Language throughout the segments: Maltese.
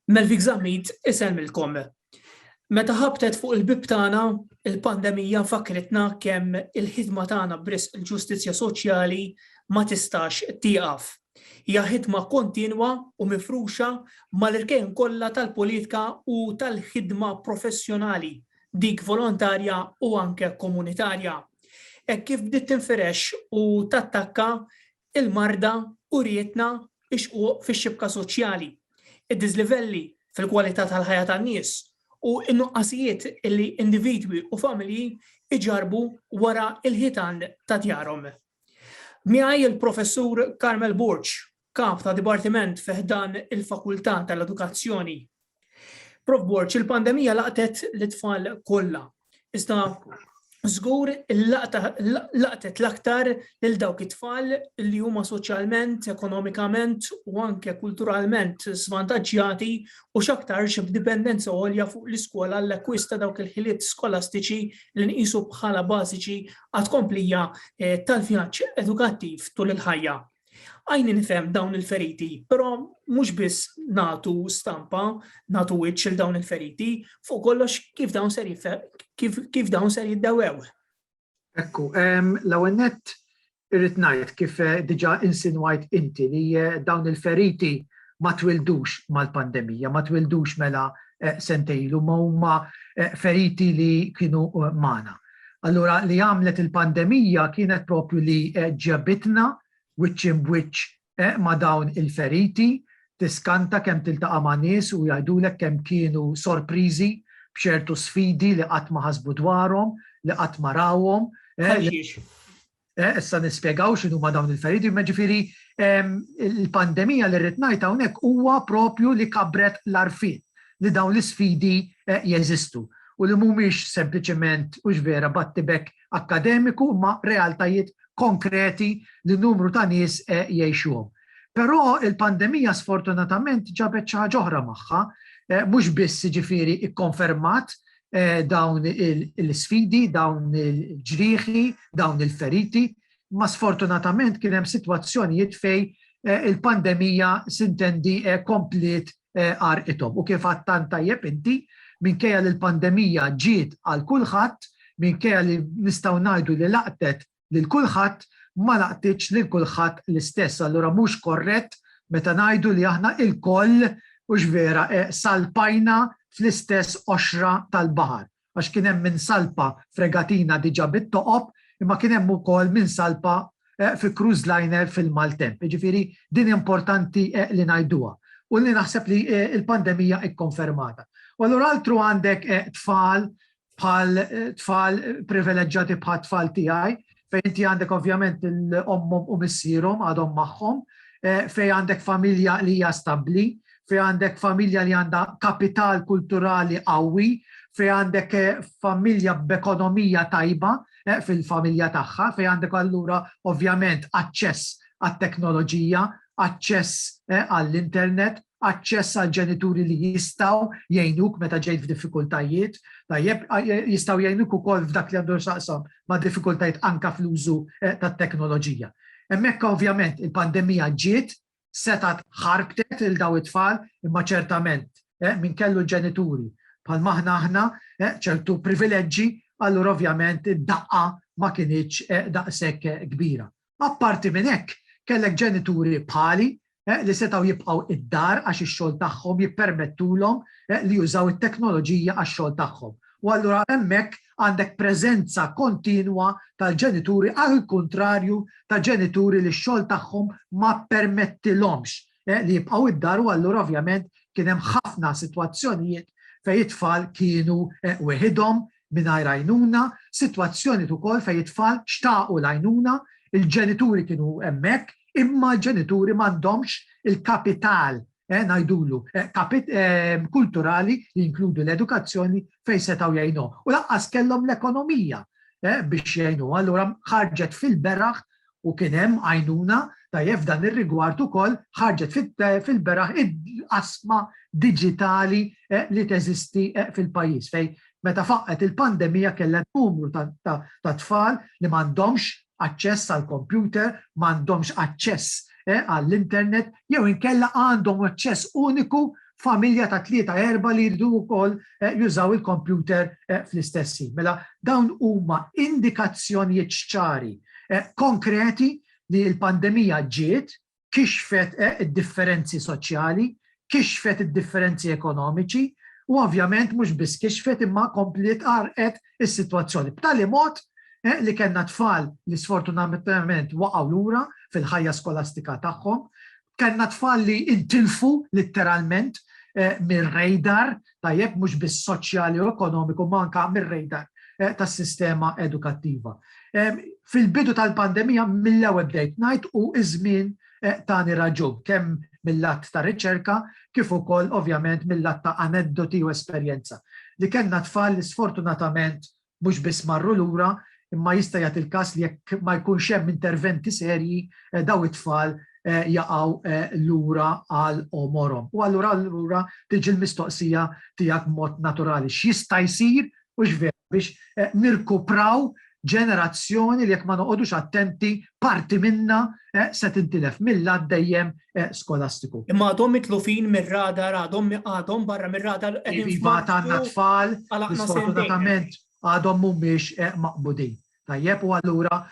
Melvik Zammit isellmilkom. Meta ħabtet fuq il-bieb tagħna, il-pandemija fakkritna kemm il-ħidma tagħna b'risq il-ġustizzja soċjali ma tistax tieqaf. Hija ħidma kontinwa u mifruxa mal-irkejn kollha tal-politika u tal-ħidma professjonali, dik volontarja u anke komunitarja. Hekk kif bdiet tinfirex u tattakka Il-marda urietna x-xquq fix-xibka soċjali, id-diżlivelli fil-kwalità tal-ħajja tan-nies, u n-nuqqasijiet li individwi u familji jġarrbu wara l-ħitan ta' djarhom. Miegħi l-Professur Carmel Borg, Kap ta' Dipartiment fi ħdan il-Fakultà tal-Edukazzjoni Prof Borg, il-pandemija laqtet l-tfal kollha. Iżda żgur laqtet l-aktar lil dawk it-tfal li huma soċjalment, ekonomikament u anke kulturalment svantaġġjati u x'aktarx b'dipendenza għolja fuq l-iskola l-akkwista dawk il-ħiliet skolastiċi li nqisu bħala bażiċi għat-tkomplija eh, tal-vjaġġ edukattiv tul il-ħajja. Għajni nifhem dawn il-feriti, però mhux biss natu stampa, natu wiċċ il dawn il-feriti, fuq kollox kif dawn ser kif dawn ser jiddawew. Ekku, l-ewwel nett irrid ngħid kif eh, diġà insinwajt inti li eh, dawn il-feriti ma twildux mal-pandemija, ma twildux mela eh, sentejlu, ma huma feriti li kienu mana. Allura li għamlet il-pandemija kienet proprju li ġabitna wiċċ imb wiċċ ma' dawn il-feriti, tiskanta kemm tiltaqa' ma' nies u jgħidulek kemm kienu sorpriżi b'ċertu sfidi li qatt ma ħasbu dwarhom, li qatt ma rawhom. Issa nispjegaw x'inhuma dawn il-feriti, imma ġifieri il-pandemija li rrid ngħid hawnhekk huwa propju li kabret l-għarfien li dawn l-isfidi jeżistu u li mhumiex sempliċement hux vera battibekk akkademiku imma realtajiet konkreti li numru ta' nies jgħixuhom. Però il-pandemija sfortunatament ġabet xi ħaġa oħra magħha, mhux biss ġifieri ikkonfermat eh, dawn il-sfidi, dawn il-ġrieħi, dawn il-feriti, ma sfortunatament kien hemm sitwazzjonijiet fej eh, il-pandemija sintendi eh, komplet arqithom. U kif għattan tajjeb inti, minkejja li l-pandemija ġiet għal kulħadd, minkejja li nistgħu ngħidu li laqtet lil kulħadd ma laqtitx lil kulħadd l-istess. Allura mhux korrett meta ngħidu li aħna lkoll, hux vera, salpajna fl-istess qoxra tal-baħar. Għax kien hemm min salpa f'regatina diġà bit-toqob, imma kien hemm ukoll min salpa fi cruise liner fil-maltemp. Jiġifieri din importanti li ngħiduha u li naħseb li l-pandemija kkonfermata. U allura altru għandek tfal bħal tfal privileġġati bħal tfal tiegħi, fejn inti għandek ovvjament l-ommom u missierhom għadhom magħhom, eh, fejn għandek familja li hija stabbli, fejn għandek familja li għandha kapital kulturali qawwi, fejn għandek eh, familja b'ekonomija tajba eh, fil-familja tagħha, fejn għandek allura ovvjament aċċess għat-teknoloġija, aċċess għall-internet, aċċess għal ġenituri li jistaw jgħinuk meta ġejt f'diffikultajiet, tajjeb jistaw jgħinuk ukoll f'dak li għandu xaqsam ma' diffikultajiet anka fl-użu eh, tat-teknoloġija. Hemmhekk ovvjament il-pandemija ġiet setat ħarbtet il daw it-tfal imma ċertament eh, minn kellu ġenituri bħal maħna aħna eh, ċertu privileġġi allura ovvjament id-daqqa ma kienieċ daqshekk kbira. Apparti minn hekk, kellek ġenituri bħali li setgħu jibqgħu id-dar għax ix-xogħol tagħhom jippermettulhom li jużaw it-teknoloġija għax-xogħol tagħhom. U allura hemmhekk għandek preżenza kontinwa tal-ġenituri għall-kuntrarju ta' ġenituri li x-xogħol tagħhom ma ppermettilhomx li jibqgħu d-dar u allura ovvjament kien hemm ħafna sitwazzjonijiet fejn it-tfal kienu weħidhom mingħajr għajnuna, sitwazzjonijiet ukoll fejn it-tfal xtaqu l-għajnuna, il-ġenituri kienu hemmhekk imma l-ġenituri m'għandhomx il-kapital ngħidulu kulturali li jinkludu l-edukazzjoni fejn setgħu jgħinuh. U lanqas kellhom l-ekonomija biex jgħinuh. Allura ħarġet fil-beraħ u kien hemm għajnuna tajjeb f'dan ir-rigward ukoll ħarġet fil-beraħ il-qasma diġitali li teżisti fil-pajjiż fejn meta faqqgħet il-pandemija kellha numru ta' tfal li m'għandhomx aċċess għall-kompjuter, m'għandhomx aċċess għall-internet jew inkella għandhom aċċess uniku familja ta' tlieta erba' li jridu wkoll jużaw il-kompjuter fl-istess ħin. Mela dawn huma indikazzjonijiet ċari konkreti li l-pandemija ġiet, kixfet id-differenzi soċjali, kixfet id-differenzi ekonomiċi, u ovvjament mhux biss kixfet imma kompliet għarrqet is-sitwazzjoni. B'tali mod li kellna tfal li sfortunatament waqgħu lura fil-ħajja skolastika tagħhom, Kellna tfal li intilfu litteralment mir-radar, tajjeb, mhux biss soċjali u ekonomiku ma anke mir-radar tas-sistema edukattiva. Fil-bidu tal-pandemija mill-ewwel bdejt ngħid u ż-żmien tani raġun, kemm mil-lat ta' riċerka kif ukoll ovvjament mil-lat ta' aneddoti u esperjenza, li kellna tfal li sfortunatament mhux biss marru lura imma jista' jagħti l-każ li jekk ma jkunx hemm interventi serji dawn it-tfal jaqgħu lura għal għomorhom. U allura allura tiġi l-mistoqsija tiegħek b'mod naturali, x'jista' jsir u x'veru biex nirkupraw ġenerazzjoni li jekk ma noqogħdux attenti parti minnha se tintilef mill-għadd dejjem skolastiku. Imma għadhom mitlufin mir-radar, għadhom għadhom barra mir-radar qegħdin Iva għandna tfal, sfortunatament għadhom mhumiex maqbudin. Tajjeb u allura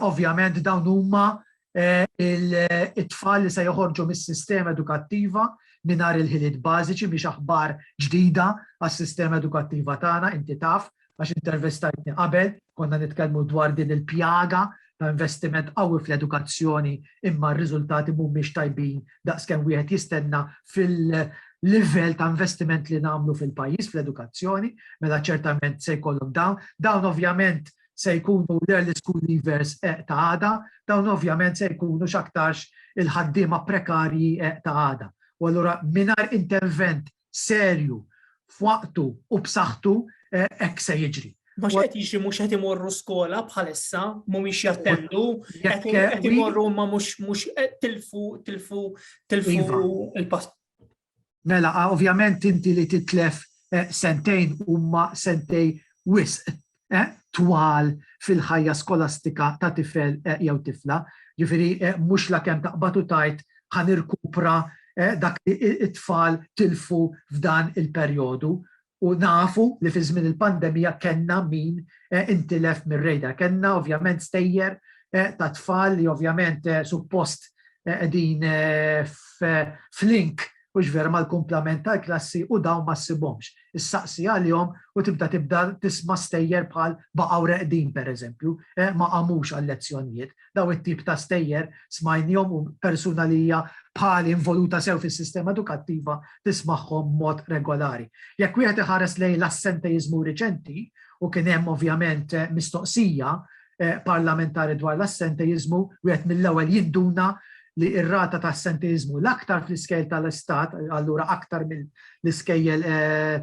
ovvjament dawn huma it-tfal li se joħorġu mis-sistema edukattiva mingħajr il-ħiliet bażiċi biex aħbar ġdida għas-sistema edukattiva tagħna inti taf għax intervistajtni qabel, konna nitkellmu dwar din il-pjaga ta' investiment qawwi fl-edukazzjoni imma r-riżultati mhumiex tajbin daqs kemm wieħed jistenna fil-livell ta' investiment li nagħmlu fil-pajjiż fl-edukazzjoni, mela ċertament se jkollhom dawn. Dawn ovvjament se jkunu l-early school leavers eh, ta' għada, dawn ovvjament se jkunu x'aktarx il-ħaddiema prekarji eh, ta' għada. U allura mingħajr intervent serju, f'waqtu u b'saħħtu hekk se jiġri. Mhux qed jiġri mhux qed imorru skola bħalissa, mhumiex jattendu, qed imorru ma mhux mhux tilfu tilfu tilfu iva. il-pass. Mela, ovvjament inti li titlef eh, sentejn huma sentej wisq twal fil-ħajja skolastika ta' tifel jew tifla. Ġifieri mhux lakemm taqbad u tgħid ħa nirkupra dak li t-tfal tilfu f'dan il-perjodu. U nafu li fi żmien il-pandemija kellna min intilef mir-radar. Kellna ovvjament stejjer ta' tfal li ovvjament suppost qegħdin f'link Hux vera mal-kumplament tal-klassi u dawn ma ssibhomx. Issaqsi għalihom u tibda tibda tisma' stejjer bħal baqgħu reqdin pereżempju, eh ma qamux għal-lezzjonijiet. Dawn it-tip ta' stejjer smajnihom u persuna li hija bħali involuta sew fis-sistema edukattiva tismagħhom b'mod regolari. Jekk wieħed iħares lejn l-assentejiżmu riċenti, u kien hemm ovvjament mistoqsija parlamentari dwar l-assenteiżmu wieħed mill-ewwel jinduna li r-rata ta' assenteiżmu l-aktar fl-iskejl tal-Istat, allura aktar mill-iskejjel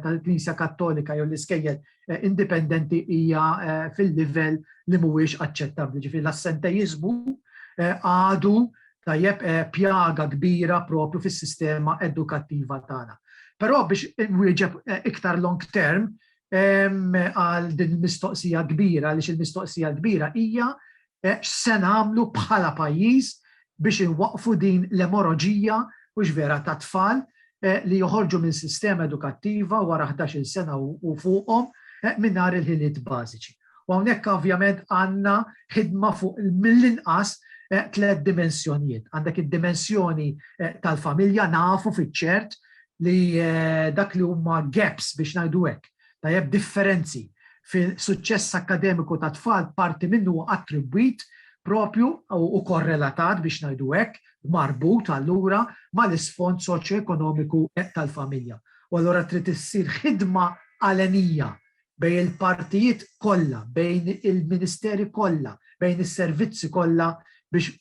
tal-Knisja Kattolika jew l-iskejjel indipendenti hija fil-livell li mhuwiex aċċettabbli. Ġifieri l-assenteiżmu għadu tajjeb pjaga kbira propju fis-sistema edukattiva tagħna. Però biex nwieġeb iktar long term, għal din il-mistoqsija kbira, għaliex il-mistoqsija kbira hija eh, x'se nagħmlu bħala pajjiż biex inwaqfu din l-emoroġija u vera ta' tfal eh, li joħorġu minn sistema edukattiva wara 11 sena u fuqhom eh, mingħajr il-ħiliet bażiċi. U hawnhekk ovvjament għandna ħidma fuq mill-inqas tliet dimensjonijiet. Għandek id-dimensjoni tal-familja nafu fiċ-ċert li dak li huma gaps biex ngħidu hekk, tajjeb differenzi fil-suċċess akkademiku ta' tfal parti minnu attribwit propju u korrelatat biex ngħidu hekk, marbut allura mal-isfond soċjoekonomiku tal-familja. U allura trid issir ħidma għalenija bejn il-partijiet kollha, bejn il-ministeri kollha, bejn is-servizzi kollha biex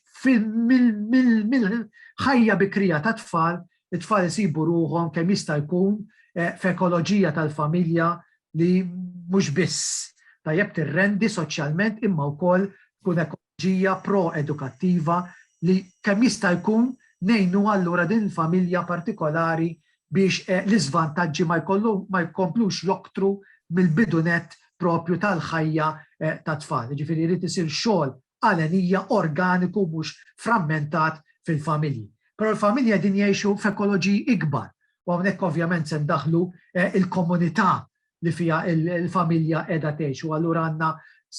mill-ħajja bikrija tat-tfal, it-tfal isibu ruħhom kemm jista' jkun f'ekoloġija tal-familja li mhux biss tajjeb tirrendi soċjalment imma wkoll tkun ekoloġija. strateġija pro-edukattiva li kemm jista' jkun ngħinuha allura din il-familja partikolari biex l-iżvantaġġi ma jkomplux joktru mill-bidu nett proprju tal-ħajja tat-tfal. Jiġifieri jrid isir xogħol għal għenija organiku mhux frammentat fil-familji. Però l-familji qegħdin jgħixu f'ekoloġiji ikbar u hawnhekk ovvjament se ndaħħlu l-komunità li fiha l-familja qiegħda tgħix u allura għandna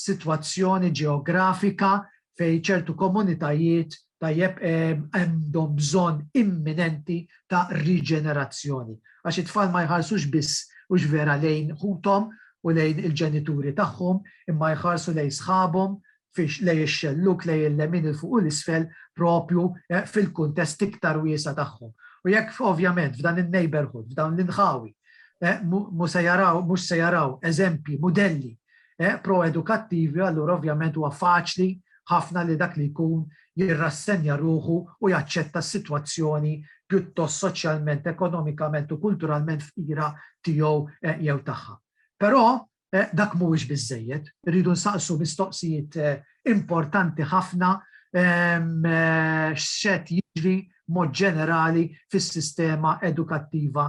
sitwazzjoni ġeografika fejn ċertu komunitajiet tajjeb għandhom bżonn imminenti ta' riġenerazzjoni. Għax it-tfal ma jħarsux biss hux vera lejn ħuthom u lejn il-ġenituri tagħhom imma jħarsu lejn sħabhom, fiex lej ix-xellug, lej il-lemin, 'il fuq u 'l isfel, proprju fil-kuntest iktar wiesa' tagħhom. U jekk ovvjament f'dan in-neighbourhood, f'dawn l-inħawi, mhu se jaraw, mhux se jaraw eżempji, mudelli pro-edukattivi, allura ovvjament huwa faċli ħafna li dak li jkun jirrassenja ruħu u jaċċetta s-sitwazzjoni pjuttost soċjalment, ekonomikament u kulturalment fqira tiegħu jew tagħha. Però dak mhuwiex biżżejjed, irridu nsaqsu mistoqsijiet importanti ħafna x'set jiġri mod ġenerali fis-sistema edukattiva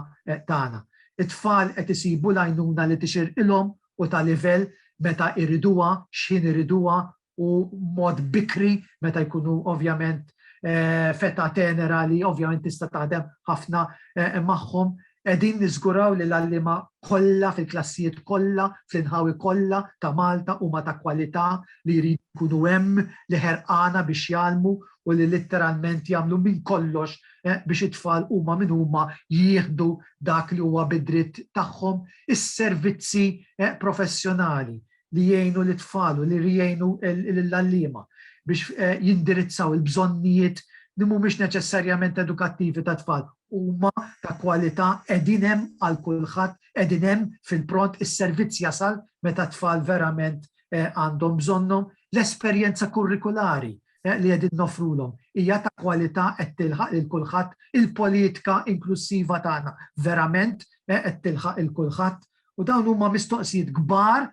tagħna. It-tfal qed isibu l-għajnuna li tixirqilhom u ta' livell, meta jriduha, x'ħin iriduha u mod bikri meta jkunu ovvjament eh, feta tenera li ovvjament tista' taħdem ħafna eh, magħhom Edin nizguraw li l-allima kolla fil-klassijiet kolla, fl-inħawi kolla ta' Malta u ma ta' kwalità li jridu jkunu hemm li ħerqana biex jalmu u li litteralment jagħmlu minn kollox eh, biex it-tfal huma minn huma jieħdu dak li huwa bidritt tagħhom is-servizzi eh, professjonali li jgħinu lit-tfal u li jgħinu lill-għalliema biex jindirizzaw il-bżonnijiet li mhumiex neċessarjament edukattivi tat-tfal huma ta' kwalità, qegħdin hemm għal kulħadd, qegħdin hemm fil-pront, is-servizz jasal meta t-tfal verament għandhom bżonnhom, l-esperjenza kurrikulari li qegħdin noffrulhom hija ta' kwalità qed tilħaq lil kulħadd, il-politika inklussiva tagħna verament qed tilħaq lil kulħadd, U dawn huma mistoqsijiet kbar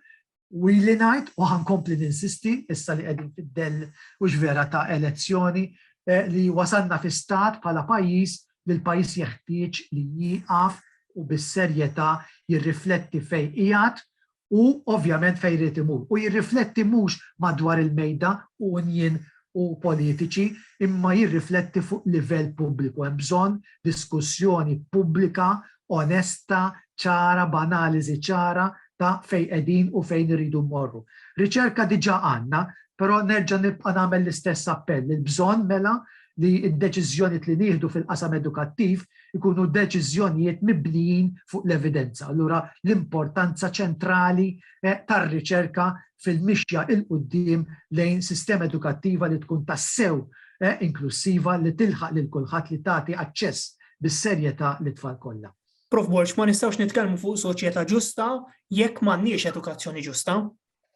u li ngħid u ħankompli ninsisti issa li qegħdin fid-dell u vera ta' elezzjoni eh, li wasalna fi stat bħala pajjiż li l-pajjiż jeħtieġ li jieqaf u bis-serjetà jirrifletti fejn qiegħed u ovvjament fejn irid imur. U jirrifletti mhux madwar il-mejda u unjin u politiċi imma jirrifletti fuq livell pubbliku. Hemm bżonn diskussjoni pubblika onesta, ċara, b'analiżi ċara ta' fejn qegħdin u fejn irridu mmorru. Riċerka diġà għandna, però nerġa' nibqa' nagħmel l-istess appell. Il-bżonn mela li d-deċiżjonijiet li nieħdu fil-qasam edukattiv ikunu deċiżjonijiet mibnijin fuq l-evidenza. Allura l-importanza ċentrali tar-riċerka fil-mixja 'l quddiem lejn sistema edukattiva li tkun tassew inklussiva li tilħaq lil kulħadd li tagħti aċċess bis-serjetà lit-tfal kollha. Prof. Borg, ma nistgħux nitkellmu fuq soċjetà ġusta jekk m'għandniex edukazzjoni ġusta.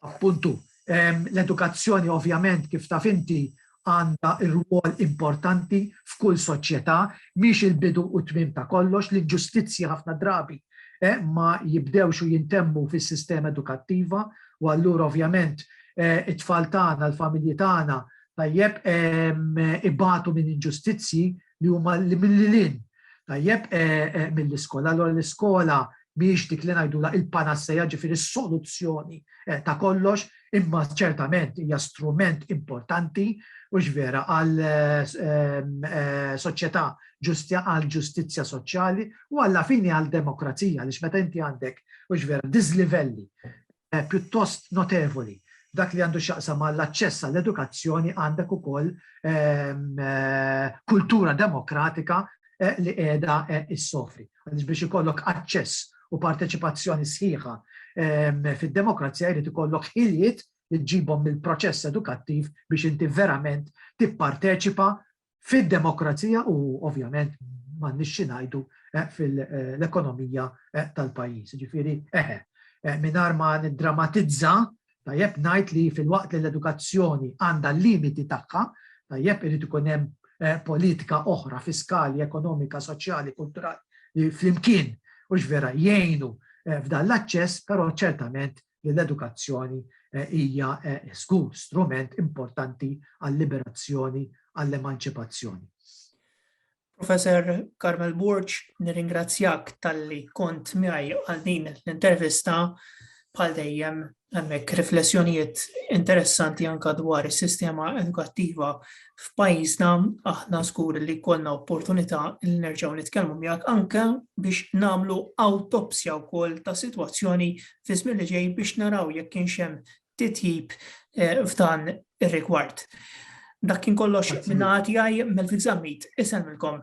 Appuntu. L-edukazzjoni ovvjament kif taf inti għandha rwol importanti f'kull soċjetà, mhix il-bidu u t-tmiem ta' kollox, l-inġustizzji ħafna drabi ma jibdewx u jintemmu fis-sistema edukattiva u allura ovvjament it-tfal tagħna, l-familji tagħna tajjeb ibatu minn inġustizzji li huma li mill-lin. Tajjeb eh, eh, mill-iskola, allora l-iskola miex dik li ngħidula il-panasseja ġifieri s-soluzzjoni eh, ta' kollox, imma ċertament hija strument importanti u vera għal soċjetà ġustja għal ġustizzja soċjali u għalla fini għal demokrazija li meta inti għandek u vera diżlivelli pjuttost notevoli. Dak li għandu x'jaqsam mal-aċċess għall-edukazzjoni għandek ukoll kultura demokratika li qiegħda issofri. Għaliex biex ikollok aċċess u parteċipazzjoni sħiħa fid-demokrazija jrid ikollok ħiliet li ġibhom mill-proċess edukattiv biex inti verament tipparteċipa fid-demokrazija u ovvjament m'għandniex xi ngħidu eh, fil-ekonomija eh, tal-pajjiż. Ġifieri eħe, eh, mingħajr ma niddramatizza, tajjeb ngħid li fil-waqt li l-edukazzjoni għandha limiti tagħha, tajjeb irid ikun hemm politika oħra fiskali, ekonomika, soċjali, kulturali li flimkien u vera jgħinu f'dan l-aċċess, però ċertament li l-edukazzjoni hija żgur strument importanti għal-liberazzjoni, għall-emanċipazzjoni. Professor Carmel Borg, nirringrazzjak talli kont miegħi għal din l-intervista bħal dejjem hemmhekk riflessjonijiet interessanti anka dwar is-sistema edukattiva f'pajjiżna aħna żgur li konna opportunità li nerġgħu nitkellmu miegħek anke biex nagħmlu awtopsja wkoll ta' sitwazzjoni fiż-żmien li ġej biex naraw jekk kienx hemm titjib f'dan ir-rigward. Dak kien kollox minn għati għaj Melvin Zammit, isemmilkom.